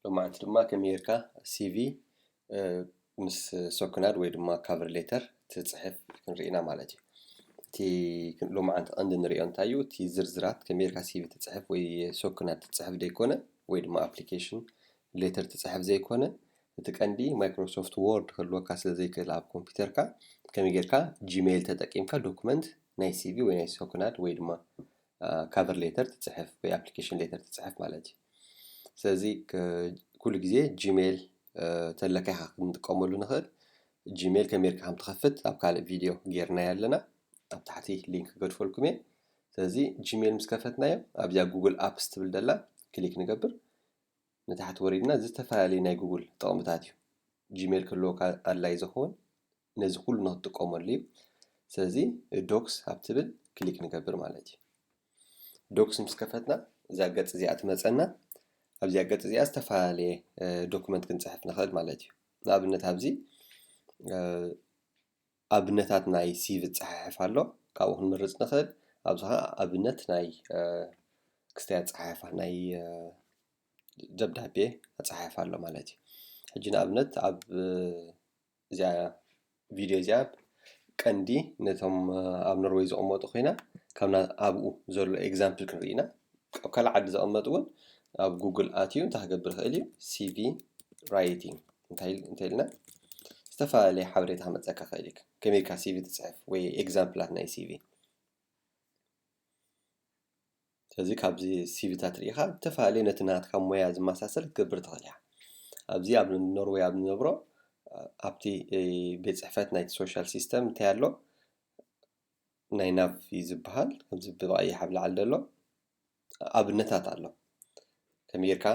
ሎማዓንቲ ድማ ከመይ ጌርካ ሲቪ ምስ ሶክናድ ወይ ድማ ካቨር ሌተር ትጽሕፍ ክንርኢ ኢና ማለት እዩ እቲ ሎማዓንቲ ቀንዲ ንሪኦ እንታይ እዩ እቲ ዝርዝራት ከመይ ጌርካ ሲቪ ትጽሕፍ ወይ ሶክናድ ትጽሕፍ ዘይኮነ ወይ ድማ ኣፕሊኬሽን ሌተር ትጽሕፍ ዘይኮነ እቲ ቀንዲ ማይክሮሶፍት ዎርድ ክህልወካ ስለ ዘይክእል ኣብ ኮምፒውተርካ ከመይ ጌርካ ጂሜይል ተጠቂምካ ዶክመንት ናይ ሲቪ ወይ ናይ ሶክናድ ወይ ድማ ካቨር ሌተር ትፅሕፍ ወይ ኣፕሊኬሽን ሌተር ትፅሕፍ ማለት እዩ ስለዚ ኩሉ ግዜ ጂሜል ተለካ ኢኻ ክንጥቀመሉ ንኽእል ጂሜል ከመይ ጌርካ ከም ትኸፍት ኣብ ካልእ ቪድዮ ጌርናዮ ኣለና ኣብ ታሕቲ ሊንክ ክገድፈልኩም እየ ስለዚ ጂሜል ምስ ከፈትናዮ ኣብዚኣ ጉግል ኣፕስ ትብል ደላ ክሊክ ንገብር ንታሕቲ ወሪድና ዝተፈላለዩ ናይ ጉግል ጥቕምታት እዩ ጂሜል ክህልወካ ኣድላይ ዝኸውን ነዚ ኩሉ ንክትጥቀመሉ እዩ ስለዚ ዶክስ ኣብ ትብል ክሊክ ንገብር ማለት እዩ ዶክስ ምስ ከፈትና እዛ ገጽ እዚኣ ትመጸና ኣብዚኣ ገጽ እዚኣ ዝተፈላለየ ዶክመንት ክንጽሕፍ ንኽእል ማለት እዩ ንኣብነት ኣብዚ ኣብነታት ናይ ሲቪ ዝጸሓሕፍ ኣሎ ካብኡ ክንምርጽ ንኽእል ኣብዚ ከዓ ኣብነት ናይ ክስተይ ኣጸሓሕፋ ናይ ደብዳቤ ኣጸሓሕፋ ኣሎ ማለት እዩ ሕጂ ንኣብነት ኣብ እዚኣ ቪድዮ እዚኣ ቀንዲ ነቶም ኣብ ኖርወይ ዝቕመጡ ኮይና ካብና ኣብኡ ዘሎ ኤግዛምፕል ክንርኢ ኢና ኣብ ካልእ ዓዲ ዘቐመጡ እውን ኣብ ጉግል ኣትዩ እንታይ ክገብር ይኽእል እዩ ሲቪ ራይቲንግ እንታይ ኢልና ዝተፈላለየ ሓበሬታ ክመፀካ ክእል እዩ ከመይካ ሲቪ ትፅሕፍ ወይ ኤግዛምፕላት ናይ ሲቪ ስለዚ ካብዚ ሲቪታት ርኢኻ ብተፈላለየ ነቲ ናትካ ሞያ ዝመሳሰል ክትገብር ትኽእል ኢኻ። ኣብዚ ኣብ ኖርወይ ኣብ ንነብሮ ኣብቲ ቤት ጽሕፈት ናይቲ ሶሻል ሲስተም እንታይ ኣሎ ናይ ናብ እዩ ዝበሃል ከምዚ ብቐይሕ ኣብ ላዕሊ ዘሎ ኣብነታት ኣሎ ከመይ ጌርካ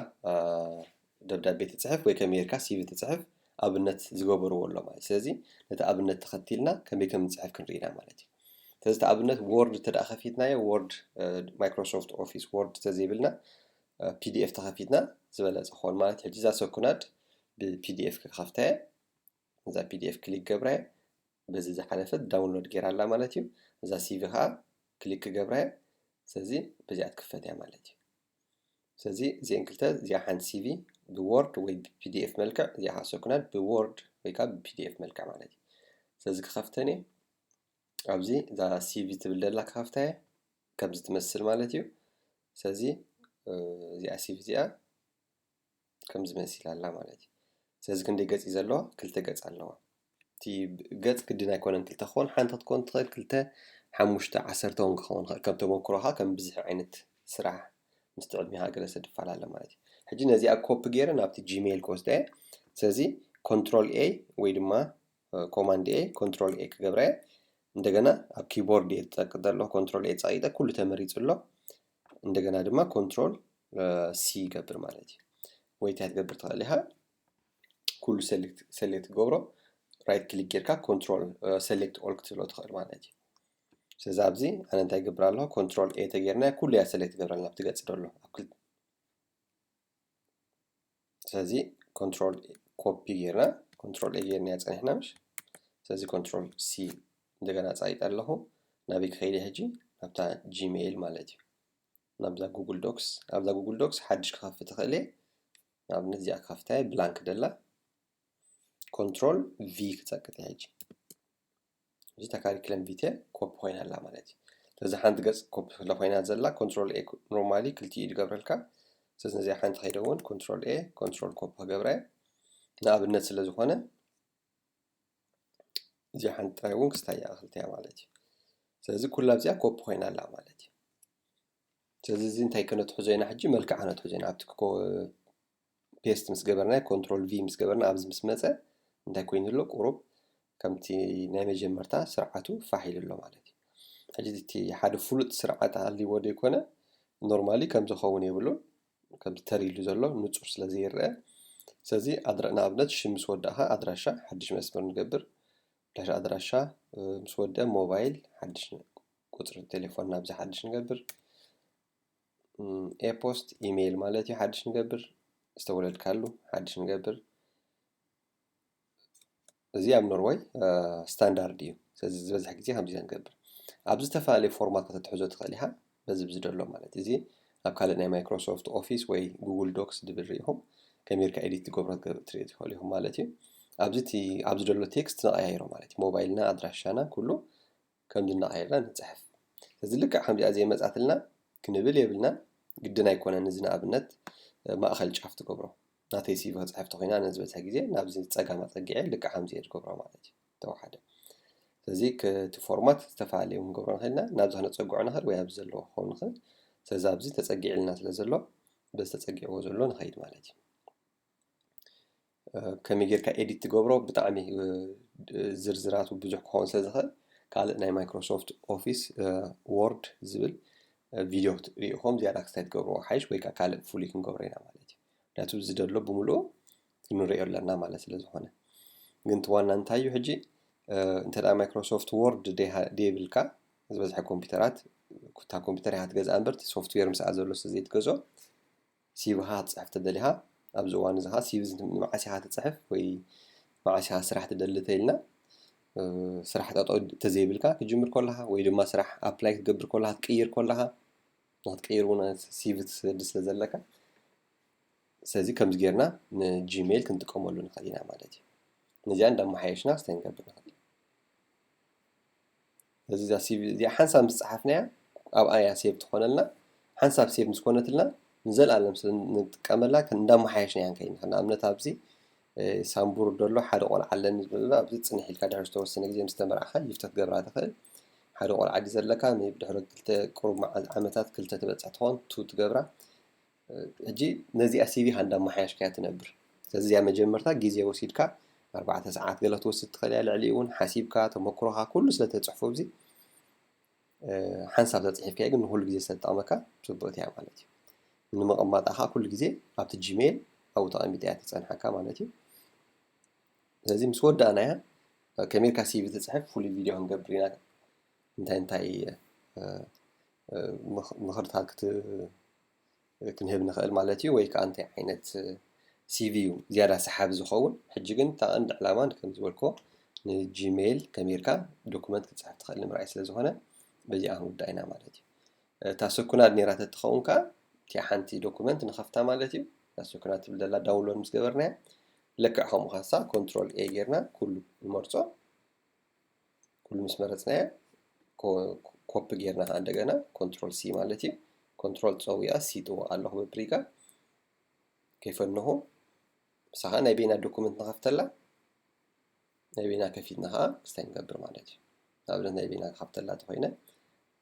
ደብዳቤ ትጽሕፍ ወይ ከመይ ጌርካ ሲቪ ትጽሕፍ ኣብነት ዝገበርዎ ኣሎ ማለት ስለዚ ነቲ ኣብነት ተኸቲልና ከመይ ከም ንጽሕፍ ክንርኢ ኢና ማለት እዩ ስለዚ እቲ ኣብነት ወርድ እንተ ደኣ ከፊትናዮ ወርድ ማይክሮሶፍት ኦፊስ ወርድ ተዘይብልና ፒዲኤፍ ተኸፊትና ዝበለጸ ክኸውን ማለት ሕጂ እዛ ሰኩናድ ብፒዲኤፍ ክኸፍታ እየ እዛ ፒዲኤፍ ክሊክ ገብራ እየ በዚ ዝሓለፈት ዳውንሎድ ጌራ ኣላ ማለት እዩ እዛ ሲቪ ከዓ ክሊክ ክገብራ እየ ስለዚ በዚኣ ትክፈት እያ ማለት እዩ ስለዚ እዚአን ክልተ እዚኣ ሓንቲ ሲቪ ብዎርድ ወይ ብፒዲኤፍ መልክዕ እዚኣ ከዓ ሰኩናል ብዎርድ ወይ ከዓ ብፒዲኤፍ መልክዕ ማለት እዩ ስለዚ ክኸፍተን እየ ኣብዚ እዛ ሲቪ ትብል ደላ ክኸፍታ እየ ከምዚ ትመስል ማለት እዩ ስለዚ እዚኣ ሲቪ እዚኣ ከምዚ መሲላ ኣላ ማለት እዩ። ስለዚ ክንደይ ገጽ እዩ ዘለዋ? ክልተ ገጽ ኣለዋ። እቲ ገጽ ግድን ኣይኮነን ክልተ ክኸውን፣ ሓንቲ ክትኮን ትኽእል፣ ክልተ፣ ሓሙሽተ፣ ዓሰርተ እውን ክኸውን ይኽእል። ከም ተመኩሮኻ ከም ብዝሒ ዓይነት ስራሕ ምስቲ ዕድሜኻ ገለ ይፈላለ ማለት እዩ። ሕጂ ነዚኣ ኮፒ ገይረ ናብቲ ጂሜይል ክወስዳ እየ። ስለዚ ኮንትሮል ኤ ወይ ድማ ኮማንድ ኤ ኮንትሮል ኤ ክገብረ እየ እንደገና ኣብ ኪቦርድ እየ ዝጠቅጥ ዘለኹ ኮንትሮል ኤ ፀቂጠ ኩሉ ተመሪፁ ኣሎ እንደገና ድማ ኮንትሮል ሲ ይገብር ማለት እዩ ወይ እንታይ ትገብር ትኽእል ኢኻ ኩሉ ሰሌክት ገብሮ ራይት ክሊክ ጌርካ ኮንትሮል ሰሌክት ኦል ክትብሎ ትኽእል ማለት እዩ ስለዚ ኣብዚ ኣነ እንታይ ይገብር ኣለኹ ኮንትሮል ኤ ተጌርና ኩሉ እያ ሰሌክት ገብረልና ኣብቲ ገፅ ደሎ ስለዚ ኮንትሮል ኮፒ ጌርና ኮንትሮል ኤ ጌርና ፀኒሕና ምሽ ስለዚ ኮንትሮል ሲ እንደገና ፃይጠ ኣለኹ ናበይ ክኸይደ ሕጂ ናብታ ጂሜይል ማለት እዩ ናብዛ ጉግል ዶክስ ኣብዛ ጉግል ዶክስ ሓድሽ ክኸፍት ትኽእል እየ ንኣብነት እዚኣ ክኸፍታ እየ ብላንክ ደላ ኮንትሮል ቪ ክፀቅጥ እየ ሕጂ እዚ እታ ካሪክለም ቪቴ ኮፒ ኮይና ኣላ ማለት እዩ ስለዚ ሓንቲ ገጽ ኮፒ ስለ ኮይና ዘላ ኮንትሮል ኤ ኖርማሊ ክልቲኡ ዝገብረልካ ስለዚ ነዚኣ ሓንቲ ከይደ እውን ኮንትሮል ኤ ኮንትሮል ኮፒ ክገብረ ንኣብነት ስለ ዝኾነ እዚኣ ሓንቲ ጥራይ እውን ክስታያ ክልተያ ማለት እዩ ስለዚ ኩላ ኣብዚኣ ኮፒ ኮይና ኣላ ማለት እዩ ስለዚ እዚ እንታይ ከነትሕዞ ኢና ሕጂ መልክዕ ከነትሕዞ ኢና ኣብቲ ፔስት ምስ ገበርና ኮንትሮል ቪ ምስ ገበርና ኣብዚ ምስ መፀ እንታይ ኮይኑ ኣሎ ቁሩብ ከምቲ ናይ መጀመርታ ስርዓቱ ፋሕ ኢሉ ኣሎ ማለት እዩ ሕጂ እቲ ሓደ ፍሉጥ ስርዓት ኣልዎ ዘይኮነ ኖርማሊ ከም ዝኸውን የብሉን ከም ተሪሉ ዘሎ ንፁር ስለ ዘይረአ ስለዚ ንኣብነት ሽም ምስ ወዳእኻ ኣድራሻ ሓድሽ መስመር ንገብር ድሕሪ ኣድራሻ ምስ ወድአ ሞባይል ሓድሽ ቁፅሪ ቴሌፎን ናብዚ ሓድሽ ንገብር ኤፖስት ኢሜይል ማለት እዩ ሓድሽ ንገብር ዝተወለድካሉ ሓድሽ ንገብር እዚ ኣብ ኖርወይ ስታንዳርድ እዩ ስለዚ ዝበዝሕ ግዜ ከምዚ ንገብር ኣብ ዝተፈላለዩ ፎርማት ከተትሕዞ ትኽእል ኢኻ በዚ ብዚ ደሎ ማለት እዚ ኣብ ካልእ ናይ ማይክሮሶፍት ኦፊስ ወይ ጉግል ዶክስ ድብል ርኢኹም ከሚርካ ኤዲት ትገብሮ ትርኢ ትኽእሉ ኢኹም ማለት እዩ ኣብዚ እቲ ኣብዚ ደሎ ቴክስት ነቐያይሮ ማለት እዩ ሞባይልና ኣድራሻና ኩሉ ከምዚ እናቐየርና ንፅሕፍ እዚ ልክዕ ከምዚኣ ዘይመፃትልና ክንብል የብልናን ግድን ኣይኮነን እዚ ንኣብነት ማእኸል ጫፍ ትገብሮ ናተይ ሲቪ ክፅሕፍ ተኮይና ነዝበዝሐ ግዜ ናብዚ ፀጋም ኣፀጊዐ ልክዕ ከምዚ እየ ዝገብሮ ማለት እዩ ተዋሓደ ስለዚ እቲ ፎርማት ዝተፈላለየ እውን ክንገብሮ ንኽእል ኢና ናብዚ ክነፀግዖ ንኽእል ወይ ኣብዚ ዘለዎ ክኸውን ንኽእል ስለዚ ኣብዚ ተፀጊዕልና ስለ ዘሎ በዚ ተፀጊዕዎ ዘሎ ንኸይድ ማለት እዩ ከመይ ጌርካ ኤዲት ትገብሮ ብጣዕሚ ዝርዝራቱ ብዙሕ ክኸውን ስለ ዝኽእል ካልእ ናይ ማይክሮሶፍት ኦፊስ ወርድ ዝብል ቪድዮ ክትሪኢኹም ዝያዳ ክስታይ ትገብርዎ ሓይሽ ወይ ከዓ ካልእ ፍሉይ ክንገብሮ ኢና ማለት እዩ ምክንያቱ ዝደሎ ብምልኡ ንሪኦ ኣለና ማለት ስለ ዝኾነ ግን እቲ ዋና እንታይ እዩ ሕጂ እንተ ማይክሮሶፍት ወርድ ደይብልካ ዝበዝሐ ኮምፒውተራት ኩታ ኮምፒውተር ኢኻ ትገዝኣ እምበር እቲ ሶፍትዌር ምስኣ ዘሎ ስለ ዘይትገዞ ሲቪኻ ክትፅሕፍ ተደሊኻ ኣብዚ እዋን እዚ ከዓ ሲቪ ንመዓስ ኢኻ ትፅሕፍ ወይ መዓስ ኢኻ ስራሕ ትደሊ ተይልና ስራሕ ጠጠው ተዘይብልካ ክትጅምር ከለኻ ወይ ድማ ስራሕ ኣፕላይ ክትገብር ከለኻ ክትቅይር ከለኻ ንክትቅይር እውን ሲቪ ትሰዲ ስለ ዘለካ ስለዚ ከምዚ ጌርና ንጂሜል ክንጥቀመሉ ንኽእል ኢና ማለት እዩ ነዚኣ እንዳመሓየሽና ክስታይ ንገብር ንኽእል ስለዚ እዛ ሲቪ እዚኣ ሓንሳብ ምስ ፀሓፍናያ ኣብኣ እያ ሴቭ ትኾነልና ሓንሳብ ሴቭ ምስ ኮነትልና ንዘለኣለም ስለ ንጥቀመላ እንዳመሓየሽና እያ ንከይድ ንኽእል ንኣብነት ኣብዚ ሳምቡር ደሎ ሓደ ቆልዓ ኣለኒ ዝብለሎ ኣብዚ ፅንሕ ኢልካ ድሕሪ ዝተወሰነ ግዜ ምስ ተመርዓኻ ይፍተ ክትገብራ ትኽእል ሓደ ቆልዓ ድዩ ዘለካ ሜቢ ድሕሪ ክልተ ቁሩብ መዓል ዓመታት ክልተ ትበፅሕ ትኾን ቱ ትገብራ ሕጂ ነዚኣ ሲቪ ሃንዳ ኣማሓያሽካያ ትነብር ስለዚ እዚኣ መጀመርታ ግዜ ወሲድካ ኣርባዕተ ሰዓት ገለ ክትወስድ ትኽእል እያ ልዕሊኡ እውን ሓሲብካ ተመክሮኻ ኩሉ ስለ ተፅሕፎ ኣብዚ ሓንሳብ ተፅሒፍካዮ ግን ንኩሉ ግዜ ስለትጠቕመካ ፅቡቕቲ እያ ማለት እዩ ንምቕማጣ ከዓ ኩሉ ግዜ ኣብቲ ጂሜል ኣብኡ ተቐሚጣ እያ ትፀንሓካ ማለት እዩ ስለዚ ምስ ወዳእናያ ከመይ ኢልካ ሲቪ ትፅሕፍ ፍሉይ ቪድዮ ክንገብር ኢና እንታይ እንታይ ምኽርታት ክት ክንህብ ንኽእል ማለት እዩ ወይ ከዓ እንታይ ዓይነት ሲቪ እዩ ዝያዳ ሰሓቢ ዝኸውን ሕጂ ግን እታ ቀንዲ ዕላማ ከም ዝበልክዎ ንጂሜይል ከሚርካ ዶኩመንት ክትፅሕፍ ትኽእል ንምርኣይ ስለ ዝኾነ በዚኣ ክንውዳእ ኢና ማለት እዩ እታ ስኩናድ ነይራ ተትኸውን ከዓ እቲኣ ሓንቲ ዶኩመንት ንኸፍታ ማለት እዩ እታ ስኩናድ ትብል ዘላ ዳውንሎድ ምስ ገበርናያ ልክዕ ከምኡ ካሳ ኮንትሮል ኤ ጌርና ኩሉ ንመርፆ ኩሉ ምስ መረፅናዮ ኮፒ ጌርና ከዓ እንደገና ኮንትሮል ሲ ማለት እዩ ኮንትሮል ፀዊያ ሲ ጥወቅ ኣለኹ ብፕሪጋ ከይፈንኹ ምሳኻ ናይ ቤና ዶኩመንት ንኸፍተላ ናይ ቤና ከፊትና ከዓ ክስታይ ንገብር ማለት እዩ ንኣብነት ናይ ቤና ክከፍተላ ተኮይነ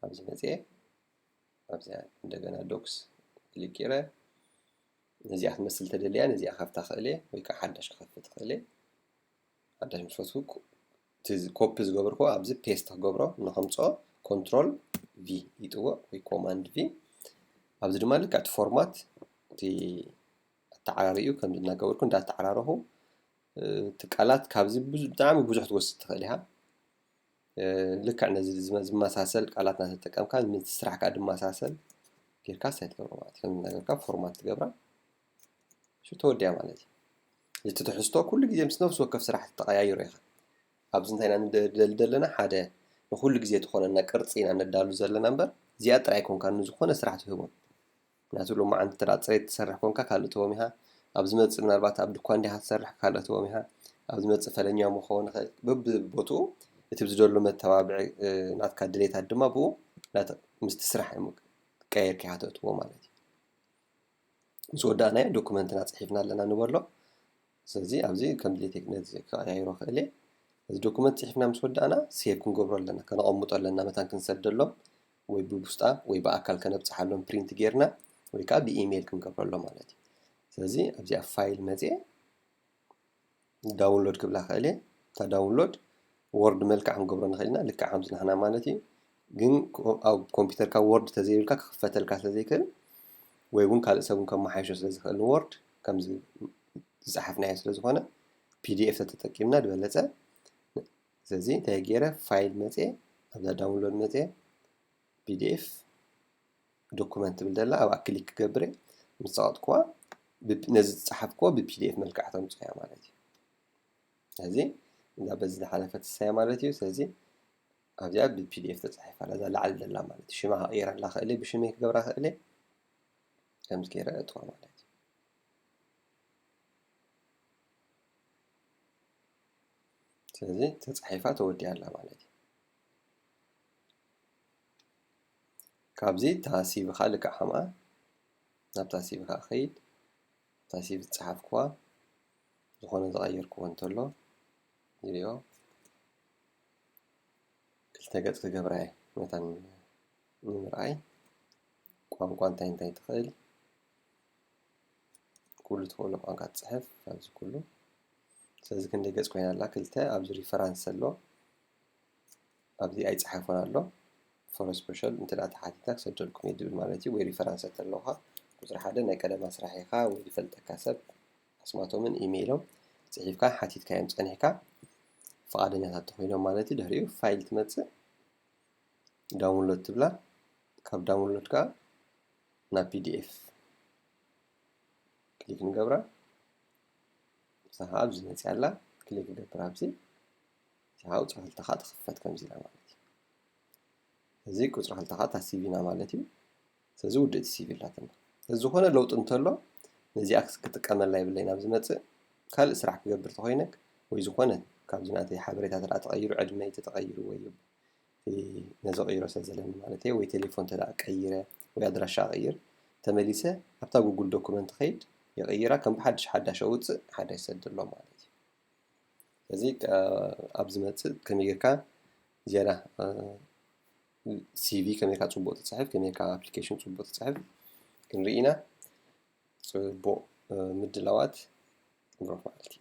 ኣብዚ መፅኤ ኣብዚኣ እንደገና ዶክስ ክሊክ ጌረ ነዚኣ ክትመስል ተደልያ ነዚኣ ካብታ ክእል እየ ወይ ከዓ ሓዳሽ ክኸፍት ክእል እየ ኣዳሽም ፈትኩ ኮፒ ዝገብርኩ ኣብዚ ፔስት ክገብሮ ንከምፅኦ ኮንትሮል ቪ ይጥዎ ወይ ኮማንድ ቪ ኣብዚ ድማ ልክዕ እቲ ፎርማት እቲ ኣተዓራሪኡ ከምዚ እናገበርኩ እንዳተዓራረኹ እቲ ቃላት ካብዚ ብጣዕሚ ብዙሕ ትወስድ ትኽእል ኢኻ ልክዕ ነዚ ዝመሳሰል ቃላት እናተጠቀምካ ምስ ስራሕካ ድመሳሰል ጌርካ ሳይት ገብሮ ማለት ከም እናገርካ ፎርማት ትገብራ ሽቶ ወዲኣ ማለት እዩ። እቲ ትሕዝቶ ኩሉ ግዜ ምስ ነፍሲ ወከፍ ስራሕቲ ተቐያይሮ ኢኻ። ኣብዚ እንታይ ኢና ንደሊ ዘለና ሓደ ንኹሉ ግዜ ትኾነና ቅርጺ ኢና ነዳሉ ዘለና እምበር እዚኣ ጥራይ ኣይኮንካን ንዝኾነ ስራሕ ትህቦ። ምክንያቱ ሎማዓንቲ እንተ ጽሬት ትሰርሕ ኮንካ ካልእ ትህቦም ኢኻ። ኣብ ዝመጽእ ምናልባት ኣብ ድኳን ዲኻ ትሰርሕ ካልእ ትህቦም ኢኻ። ኣብ ዝመጽእ ፈለኛ እውን ክኸውን ይኽእል። በብቦትኡ እቲ ዝደሉ መተባብዒ ናትካ ድሌታት ድማ ብኡ ምስቲ ስራሕ ቀያይርካ ኢኻ ተእትዎ ማለት እዩ። ምስ ወዳእናዮ ዶክመንትና ጽሒፍና ኣለና ንበሎ ስለዚ ኣብዚ ከም ድሌተይ ነዚ ክቀያይሮ ክእል እየ እዚ ዶክመንት ጽሒፍና ምስ ወዳእና ሴቭ ክንገብሮ ኣለና ከነቐምጦ ኣለና መታን ክንሰደሎም ወይ ብቡስጣ ወይ ብኣካል ከነብጽሓሎም ፕሪንት ጌርና ወይ ከዓ ብኢሜይል ክንገብረሎ ማለት እዩ ስለዚ ኣብዚ ኣብ ፋይል መጽኤ ዳውንሎድ ክብላ ክእል እየ እታ ዳውንሎድ ወርድ መልክዕ ክንገብሮ ንኽእል ኢና ልክዕ ከምዚ ንሕና ማለት እዩ ግን ኣብ ኮምፒውተርካ ወርድ ተዘይብልካ ክኽፈተልካ ስለ ዘይክእል ወይ እውን ካልእ ሰብ እውን ከመሓይሾ ስለ ዝኽእል ንወርድ ከምዚ ዝፀሓፍናዮ ስለ ዝኾነ ፒዲኤፍ ተተጠቂምና ዝበለፀ ስለዚ እንታይ ገይረ ፋይል መፅየ ኣብዛ ዳውንሎድ መፅየ pdf ዶኩመንት ትብል ዘላ ኣብኣ ክሊክ ክገብር እየ ምስ ፀቐጥክዋ ነዚ ዝፀሓፍክዎ ብፒዲኤፍ መልክዕ ተምፅኦ እያ ማለት እዩ ስለዚ እዛ በዚ ዝሓለፈ ትሳያ ማለት እዩ ስለዚ ኣብዚኣ ብፒዲኤፍ ተፃሒፋ እዛ ላዕሊ ዘላ ማለት እዩ ሽማ ክቕይራ ኣላ ክእል ብሽመይ ክገብራ ክእል ከምዚ ገይረ እጥዋ ማለት እዩ ስለዚ ተፃሒፋ ተወዲያ ኣላ ማለት እዩ ካብዚ እታ ሲቪኻ ልክዕ ከምኣ ናብታ ሲቪኻ ክኸይድ እታ ሲቪ ዝጸሓፍክዋ ዝኾነ ዝቐየርክዎ እንተሎ ይሪኦ ክልተ ገጽ ክገብራ እየ ነታ ንምርኣይ ቋንቋ እንታይ እንታይ ትኽእል ኩሉ ትኽእሉ ቋንቋ ትጽሕፍ ኣብዚ ኩሉ ስለዚ ክንደይ ገጽ ኮይና ኣላ ክልተ ኣብዚ ሪፈራንስ ኣሎ ኣብዚ ኣይጸሓፎን ኣሎ ፎር ስፐሻል እንተ ተሓቲትካ ክሰደልኩም እየ ድብል ማለት እዩ ወይ ሪፈራንስ እንተለካ ቁጽሪ ሓደ ናይ ቀደም ኣስራሒኻ ወይ ዝፈልጠካ ሰብ ኣስማቶምን ኢሜይሎም ጽሒፍካ ሓቲትካዮም ጸኒሕካ ፍቓደኛታት ተኾይኖም ማለት እዩ ድሕሪኡ ፋይል ትመጽእ ዳውንሎድ ትብላ ካብ ዳውንሎድ ከዓ ናብ ፒዲኤፍ ክሊክ ንገብራ ሳሓ ኣብዚ መጽያ ኣላ ክሊክ ገብር ኣብዚ እዚኣ ቁፅሪ ክልተ ከዓ ትኽፈት ከምዚ ኢላ ማለት እዩ እዚ ቁፅሪ ክልተ ከዓ እታ ሲቪ ኢና ማለት እዩ ስለዚ ውድእቲ ሲቪ ኣላትና ስለዚ ዝኾነ ለውጢ እንተሎ ነዚኣ ክጥቀመላ የብለይን ኣብ ዝመፅእ ካልእ ስራሕ ክገብር ተኾይነ ወይ ዝኾነ ካብዚ ናተይ ሓበሬታ ተደኣ ተቐይሩ ዕድመይ ተተቐይሩ ወይ ነዚ ቀይሮ ስለ ዘለኒ ማለት እየ ወይ ቴሌፎን ተደኣ ቀይረ ወይ ኣድራሻ ቀይር ተመሊሰ ኣብታ ጉጉል ዶኩመንት ኸይድ የቐይራ ከም ብሓድሽ ሓዳሽ ኣውፅእ ሓዳሽ ሰደሎ ማለት እዩ እዚ ኣብ ዝመጽእ ከመይ ጌርካ ዝያዳ ሲቪ ከመይ ጌርካ ጽቡቕ ትጽሕፍ ከመይ ጌርካ ኣፕሊኬሽን ጽቡቕ ትጽሕፍ ክንርኢ ኢና ጽቡቕ ምድላዋት ንረኽብ ማለት እዩ